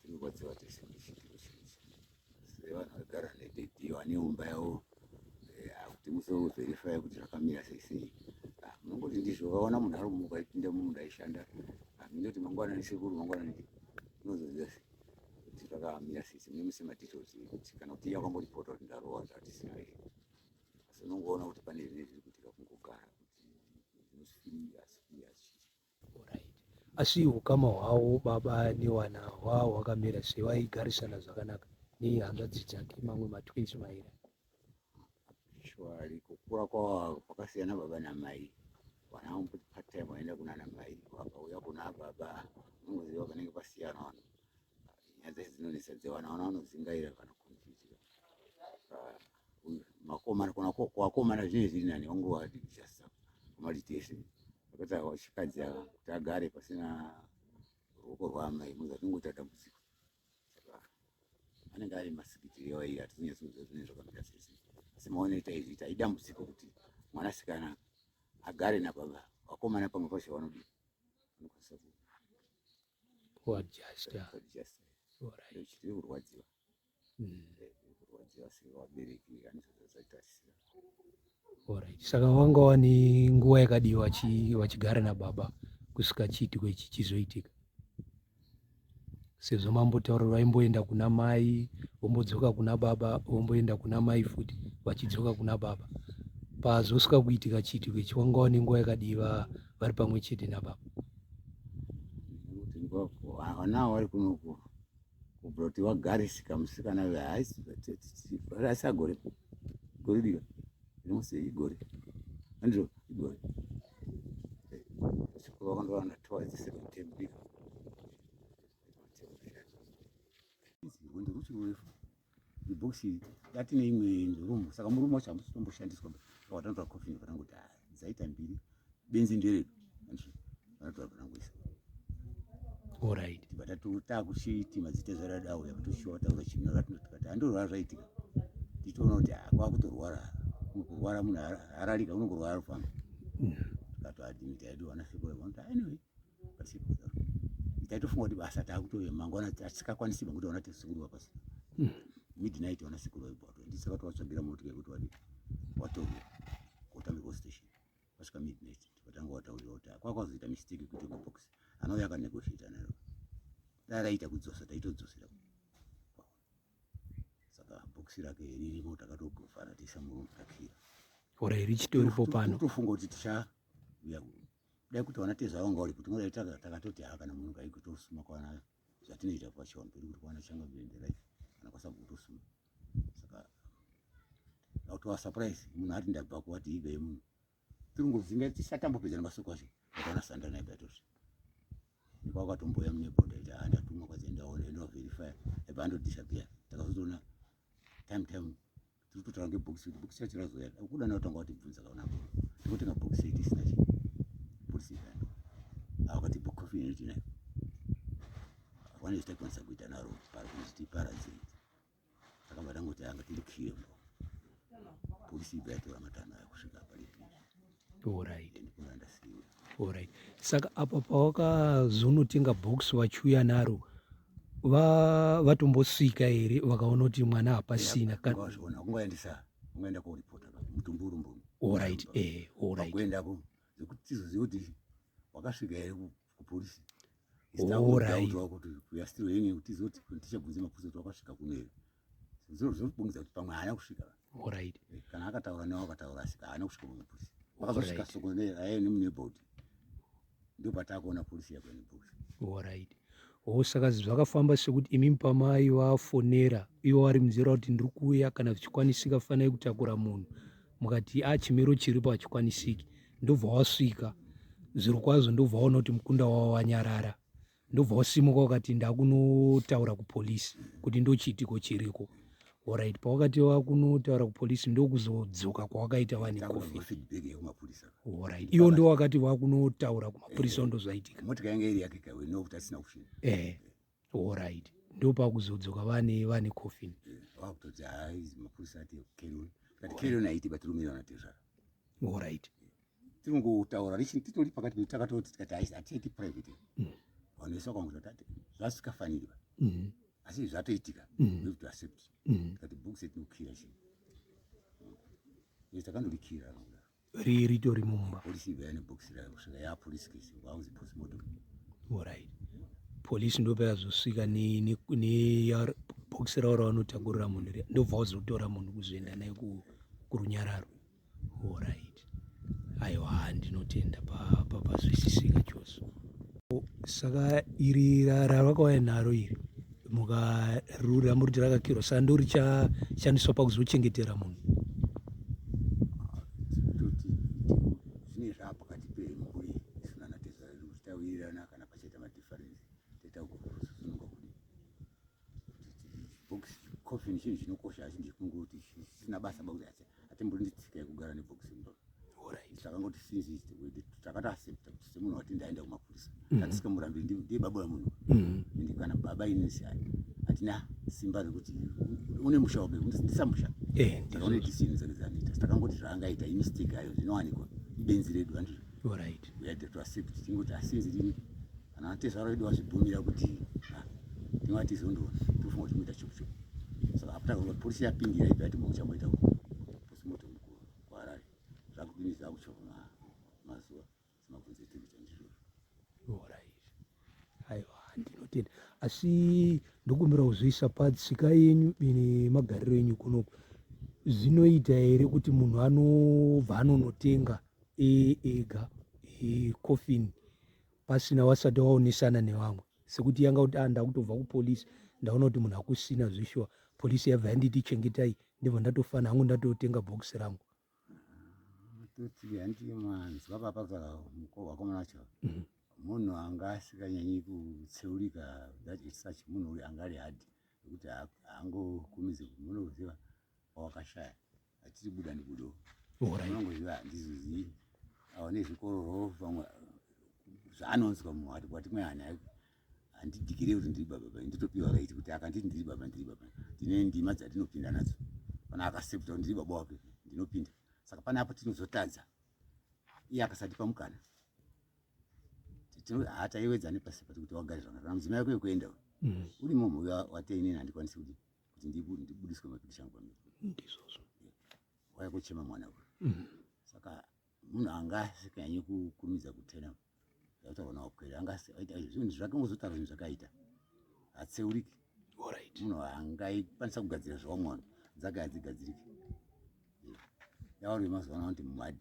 tinorwadziwa tese ndishikirishikisha sevanhu vagara nededhi vaneumba yavo eh, akuti musoverifya kuti zvakamira sei sei ah, munongoti ndizvo vaona munhu ari kumuka ipinda mumunda aishanda ah, mindoti mangwana nesekuru mangwana ne unozoziva sei kuti zvakamira sei sei nemuse madetails ekuti kana kuti iya kwamboripota kuti ndarowa zvatisina here asi unongoona kuti pane zvine zviri kuitika kungogara kuti zvinosifii asi asi ukama hwavo baba newana hwaa hwakamira sei vaigarisana zvakanaka nehanzvadzi dzake mamwe matwins maira shwari kukura kwavo kwakasiyana baba namai vana vamboti patime vaenda kunana mai vakauya kuna baba unoziva panenge pasiyana vanhu nyaya dzai dzinonetsa dzevana vana vanodzingaira kana makomana kona kwakomana zvinenge zviri nani wangovadigisa kumaditese akati awa chikadzi ava kuti agare pasina ruoko rwaamai muza zvingoita dambudziko saka anenge ari masikitiri yawai hatizonyatsi kuziva zvinenge zvakamira sese asi maone taizviita idambudziko kuti mwanasikana agare nababa vakomana pamwe pacho vanodii vanokwanisa kuadjasta kurwadziwa Alright. Saka wanga wani nguva yakadii vachigara nababa kusvika chiitiko ichi chizoitika? Sezvo mambotaura vaimboenda kuna mai vombodzoka kuna baba vomboenda kuna mai futi vachidzoka kuna baba pazosvika kuitika chiitiko ichi wanga wani nguva yakadii vari pamwe chete nababa? Havana vari kunoku kubvira kuti vagarisika musikana uyo haisi asi agore gore dika rimose igore andizvo igore sikuva vakandowana towa dzesecond term dika ibhokisi dati neimwe rumu saka murumu wacho hamusi tomboshandiswa pawatanotora coffin vanangoti ah, dzaita mbiri benzi nderedu vanotora vanangoisa orit takuchiti mazita zvaradawo yakutoshiwa taura chimwe ratinotikati handorwara zvaitika tichitoona kuti ah, kwakutorwara kurwara munhu hararika unongorwara famba mm. tikatoadimita yedu vanasekuru vanoti ah, anyway taitofunga kuti basa taakutove mangwana atisakakwanisi vangu taona tisikuru vapasi hmm. midnight vana sikuru vaibato ndisa vati vatsvagira motika yekuti vadi watorwa kotambirwa station vasvika midnight vatanga wataurira kuti kwakwazoita mistake kuti box anouya akanegotiata naro dai raita kudzosa taitodzosera saka box rake ririmo takatogofana tiisa murumu takira ora iri chitoripo pano tofunga kuti tichauya dai kuti wana teza wanga uri kuti ngoda itaka takatoti ha kana munhu kai kuti usuma kwana zvatinoita kwa chon kuti kuti kwana changa bende right kana kwa sabu kuti usuma saka na utwa surprise munhu ati ndabva kwa ti ibe munhu tungu zinga tisatambo pedzana masoko asho kana sanda na ibe tosi kwa kwa tumbo ya mne bonda ita anda tumwa kwa zenda one no verify e bando disappear takazotona time time tiri kutotaura ngebhokisi kuti bhokisi racho razoya kuda nayo tanga watibvunza kaona ko tinotenga bhokisi iri isina chi bhokisi iri akati bhokofi iri tina vanezita kwanisa kuita naro pari kuti paradzei akabva tangoti anga tiri kiyembo bhokisi ibva yatora matano ayo kusvika pari pii Alright. Alright. Saka apa pawakazonotenga box vachiuya naro va vatombosvika here vakaona kuti mwana hapasina Alright. Eh, alright. Vakasvika here kupolisi ndaudzwa kuti we are still hanging kuti zoti tichabvunze mabvunzo kuti wakasvika kuno here zviro zvinobongedza kuti pamwe haana kusvika right eh, kana akataura newa akataura asika haana kusvika pamwe polisi akazosvika soko aye nemunebout ndipo pataakuona polisi yako nebout right o saka zvakafamba sekuti imi pamai vafonera ivo vari munzira kuti ndiri kuuya kana zvichikwanisika fanai kutakura munhu mukati a chimiro chiripo hachikwanisiki ndobva wasvika zviri kwazvo ndobva waona kuti mukunda wavo wanyarara ndobva wasimuka wakati ndakunotaura kupolisi kuti ndochiitiko chiriko orit pawakati wakunotaura kupolisi ndokuzodzoka kwawakaita vaneorit iwo ndo wakati wakunotaura kumapurisa ndozvaitika Alright. Ndopakuzodzoka vane vane coffin. Eh, Vakutoti haizi mapurisa ati carry on. But carry on haiti batirumira vanatezvara. Alright. Tinongotaura richini titori pakati pedu takatoti tikati haizi hatiiti private. Mm. Vanhu vese vakangozi vatati zvasikafanirwa. Mm. Asi zvatoitika. Mm. We have to accept. Mm. Tikati book set nokukira chii. Yes, takandorikira. Ri ritori mumba. Police ive ane box rayo kusvika ya police case vauzi post mortem. All right. Police ndopa yazosvika ne ne ne ya box rayo ravanotakurira munhu riya ndobva vazotora munhu kuzoenda naye ku kurunyararo. All right. Aiwa ndinotenda pa pa pazwisisika chose. saka iri ravakauya naro iri mukarura muri kuti rakakirwa saka ndo richashandiswa pakuzochengetera munhu coffin chinhu chinokosha asi ndikungoti chisina basa bakuti atimbunditsika yekugara nebhokisi mudoro takangoti since takati accepta kuti semunhu wati ndaenda kumapurisa mm-hmm. tatisika murambi ndiye baba wemunhu mm-hmm. ende kana baba inesi ayi hatina simba rekuti une musha wabe ndisamusha eh, takaone decision dzake dzanoita takangoti zvaangaita imistake ayo zvinowanikwa ibenzi redu andizvo right we had to accept tingoti asinzi ah, rini Kana atezvara vedu vazvibvumira kuti ah, tinovatizondo tofunga kuti muita chuku chuku. Saka apo takange polisi yapindira ibva yati maucha moita uko. Posi moto mukuru kwaRare. Zvakudinisa kuchoma mazuva simabvunzo etinhu chandizvo. Alright. Aiwa ndinotenda. Asi ndokumbira kuzviisa patsika yenyu ine magariro enyu kunoku. Zvinoita here kuti munhu anobva anonotenga e, ega e, coffin pasina wasati waonesana nevamwe sekuti yanga kuti ah, ndakutobva kupolice ndaona kuti munhu akusina zveshuwa polisi yabva yanditi chengetai ndibva ndatofana hangu ndatotenga bhokisi rangu toti handi manzwa papa vakomana vacho mhm. munhu anga asikanyanyi kutseurika that is such munhu uyu anga ari hadi nekuti haangokumizi munhu uziva wawakashaya Achiri buda ndibudo. Ora. Unongoziva handizizi. Aone zvikororo vamwe zvaanonzwa mumwe ati kwati mwe hana handidigire kuti ndiri baba baba nditopiwa right kuti akanditi ndiri baba ndiri baba ndine ndima dzandinopinda nadzo kana akasepta kuti ndiri baba wake ndinopinda saka pane apo tinozotadza iye akasatipa mukana hataiwedzane pasi pati kuti wagare zvakanaka mudzimai wako yekuenda mm. uri mumhu wateini handikwanisi kuti kuti ndibudiswe matudishi angu pamiro ndizvozvo waya kuchema mwana uyu mm. saka munhu anga asikanyanyi kukurumidza kutena zvaitaurwa nawakwere anga aita zvinhu zvake ngozotaura zvinhu zvakaita hatseuriki munhu angaikwanisa kugadzira zvawamwana dzake hadzigadziriki yavari vemazuva ano vanoti mumhadi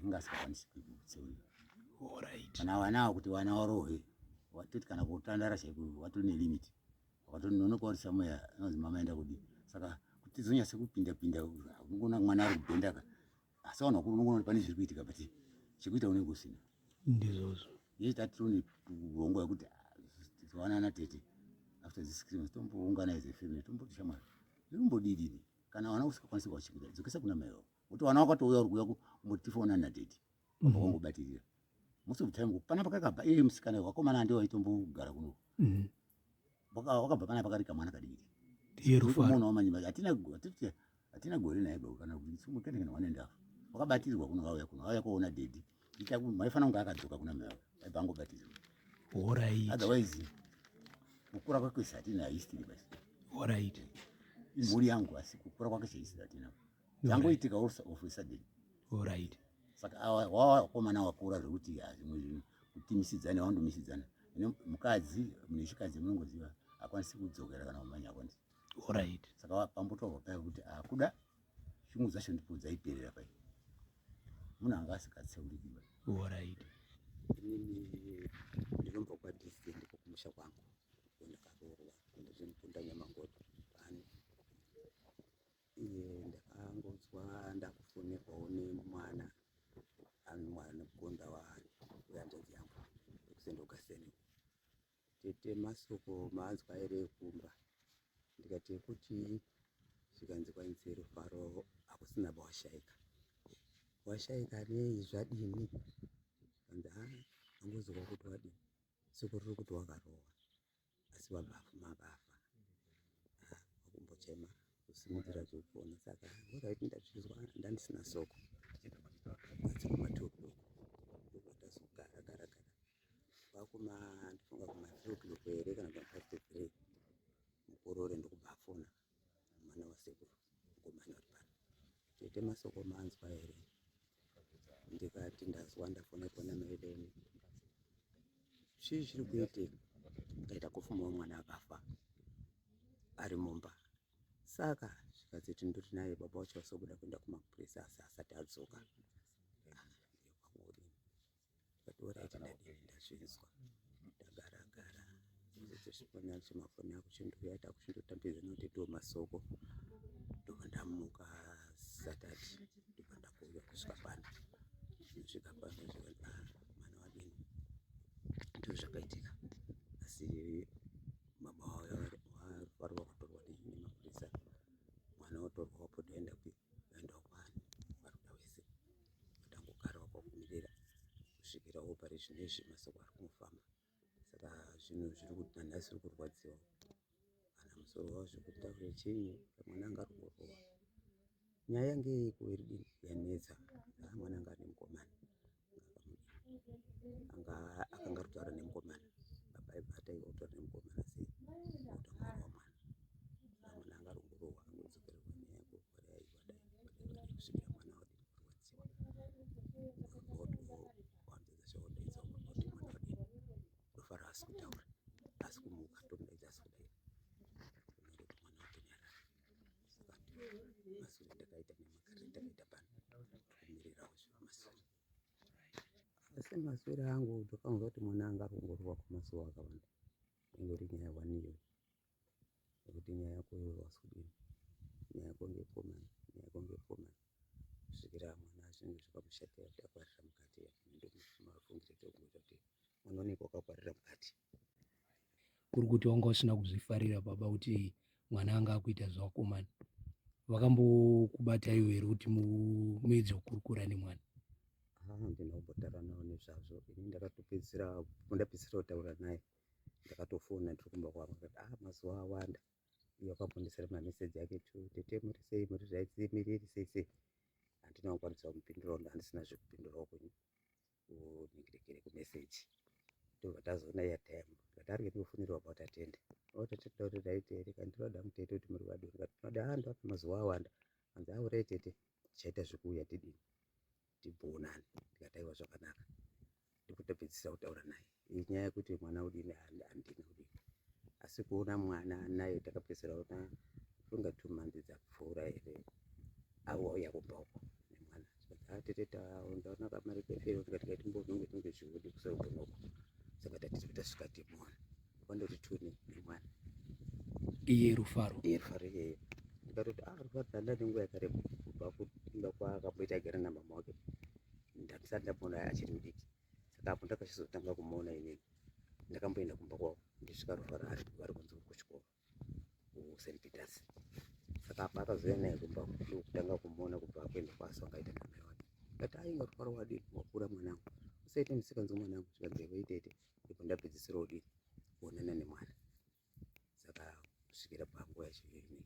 inga asikakwanisi kutseurika kana vanawo kuti vana warohwe watoti kana kutandara chaiko watori nelimiti wakatononoka uri somewhere anonzi mama enda kudii saka kuti zonyase kupinda pinda unogona mwana ari kubhenda ka asi vanhu vakuru unogona kuti pane zviri kuitika but chekuita unenge usina ndizvozvo yei tatirone kurongo yekuti tiwanana tete after this christmas tomboungana as a family tomboti shamwari zvinombodidini kana vana usikakwanisi kuvachimbira dzokesa kuna mai vavo kuti vana wakatouya uri kuuya kumotifoona natete mhm. vakangobatirira most of the time panapa kakabva iye musikana wakomana ndiwo aitombogara kuno mhm. wakabva pana pakari kamwana kadiki yerufamuona wamanyima hatina hatiti hatina gore naye bau kana kuisimukendekana one and half wakabatirirwa kuno vauya kuno vauya kuona dedi itaku maifanira kunge akadzoka kuna mai vavo aibva angobatirirwa horait otherwise kukura kwake hatina history basi horait imhuri yangu asi kukura kwake sehistory hatina zvangoitika also of a sudden orit saka wakomana wakura zvekuti zvimwe zvinhu kutimisidzana wandomisidzana ine mukadzi mune chikadzi munongoziva akwanisi kudzokera kana kumanya akwanisi orit saka pambotorwa paya kuti akuda shungu dzacho ndipo dzaiperera pai munhu anga asikatseurikiba orit ndinobva kwadist ndiko kumusha kwangu ndakaroorwa kundozimupunda nyamangoto Eh, ndakangonzwa ndakufonerwawo nemwana mwana kugonda waari wehanzvadzi yangu ekusendoka seni tete masoko maanzwa here ekumba ndikati ekuti zvikanzi kwainzi rufaro hakusina bawashaika washaika nei zvadini kanzi ha angozova kuti wadini siku riri kuti wakarohwa asi vanhu vafuma vafa ah, vakumbochema kusimudzira zvekupona saka ngoraiti ndazvizwa ndandisina soko tichita matokoko ndokatazogara gara gara vakuma ndifunga kuma three o'clock here kana kuma five to three mukorore ndokubva afona mwana wasekuru mukomana uri pano tete masoko manzwa here ndikati ndazwa ndafonerwa namaideni chii chiri kuitika ndaita kufumawo mwana akafa ari mumba saka zvikanzi kuti ndiri naye baba wacho vasobuda kuenda kumapurisa asi asati adzoka ah, Ndakatora ichi ndadini ndazvinzwa. Ndagara gara. Ndozosvipona chemafoni ako chindoya takuchindotambidza nokuti ndiwo masoko. Ndobva ndamuka satati ndobva ndakuuya kusvika pano. Ndosvika pano zvika ah, mwana wadini. Ndozvakaitika. Asi mama wavo varwa kutorwa nemapurisa. Mwana otorwa wapo toenda kupi? Vaenda kwani? Varuda wese. kusvikira opari zvinezvi masoko ari kumufamba saka zvinhu zviri kuti nanhasi iri kurwadziwa kana musoro wavo zvekuti taure chinyi mwana anga ari kurova nyaya yange yeiko iri dii yanetsa aa mwana anga ane mukomana anga akanga ari kutaura nemukomana baba ibata ivo kutaura nemukomana sei kuta mwana wa mwana mwana anga ari kurova angodzokererwa nyaya yako kwareaiwadai kusvikira mwana wadii asi maswera angu tofanirwa kuti mwana anga arongorwa kwemazuva akawanda ingori nyaya waniyo nekuti nyaya yako iyoyo haisi kudini nyaya yako ndeyepo mhani nyaya yako ndeyepo mhani kusvikira mwana zvinenge zvakamushatira kuti akwarira mukati ndomafungira tokungoita kuti mwana unenge wakakwarira mukati kuri kuti wanga usina kuzvifarira baba kuti mwana anga akuita zvevakomana vakambokubata iwe here kuti muedze kukurukura nemwana handina kumbotaura navo nezvazvo ini ndakatopedzisira ndapedzisira kutaura naye ndakatofona ndiri kumba kwangu ndikati ah mazuva awanda uye akambondisira mameseji ake tu tete muri sei muri zvaitsi miri iri sei sei handina kukwanisa kumupindurawo ndandisina zvekupindurawo kwenyu unyengerekere kumeseji ndobva tazoona yatime ndikati ari ketofunirwa about atende otatenda kuti ndaite here ka ndinoda mutete kuti muri vadoni kati tinoda ah ndoda mazuva awanda hanzi aure tete tichaita zvekuuya tidini timbonane tikataiwa zvakanaka ndikutopedzisa kutaura naye inyaya yekuti mwana udini handina udini asi kuona mwana naye takapedzisira ona funga two months dzapfuura here auya kumba uko nemwana atete taondaona kamari kefero tikati katimbozonge tinge zviudi kusaugona uko saka tatiri tasvika timona wandoti two ne one iye rufaro iye rufaro iyeyo ndikatoti ah rufaro ndanda nenguva yakareba kubva kuimba kwaakamboita agara namama wake ndandisati ndamboona achiri mudiki saka apo ndakachizotanga kumuona inini ndakamboenda kumba kwavo ndisvika rufaro ari vari kunzi uri kuchikoro st peters saka apa akazouya naye kumba ndokutanga kumuona kubva akuenda kwaso akaita namai wake kati ainga rufaro wadii wakura mwanangu usaite misikanzi mwanangu zvikanzi yavo itete ndipo ndapedzisira kudii kuonana nemwana saka kusvikira panguva yachiviri nei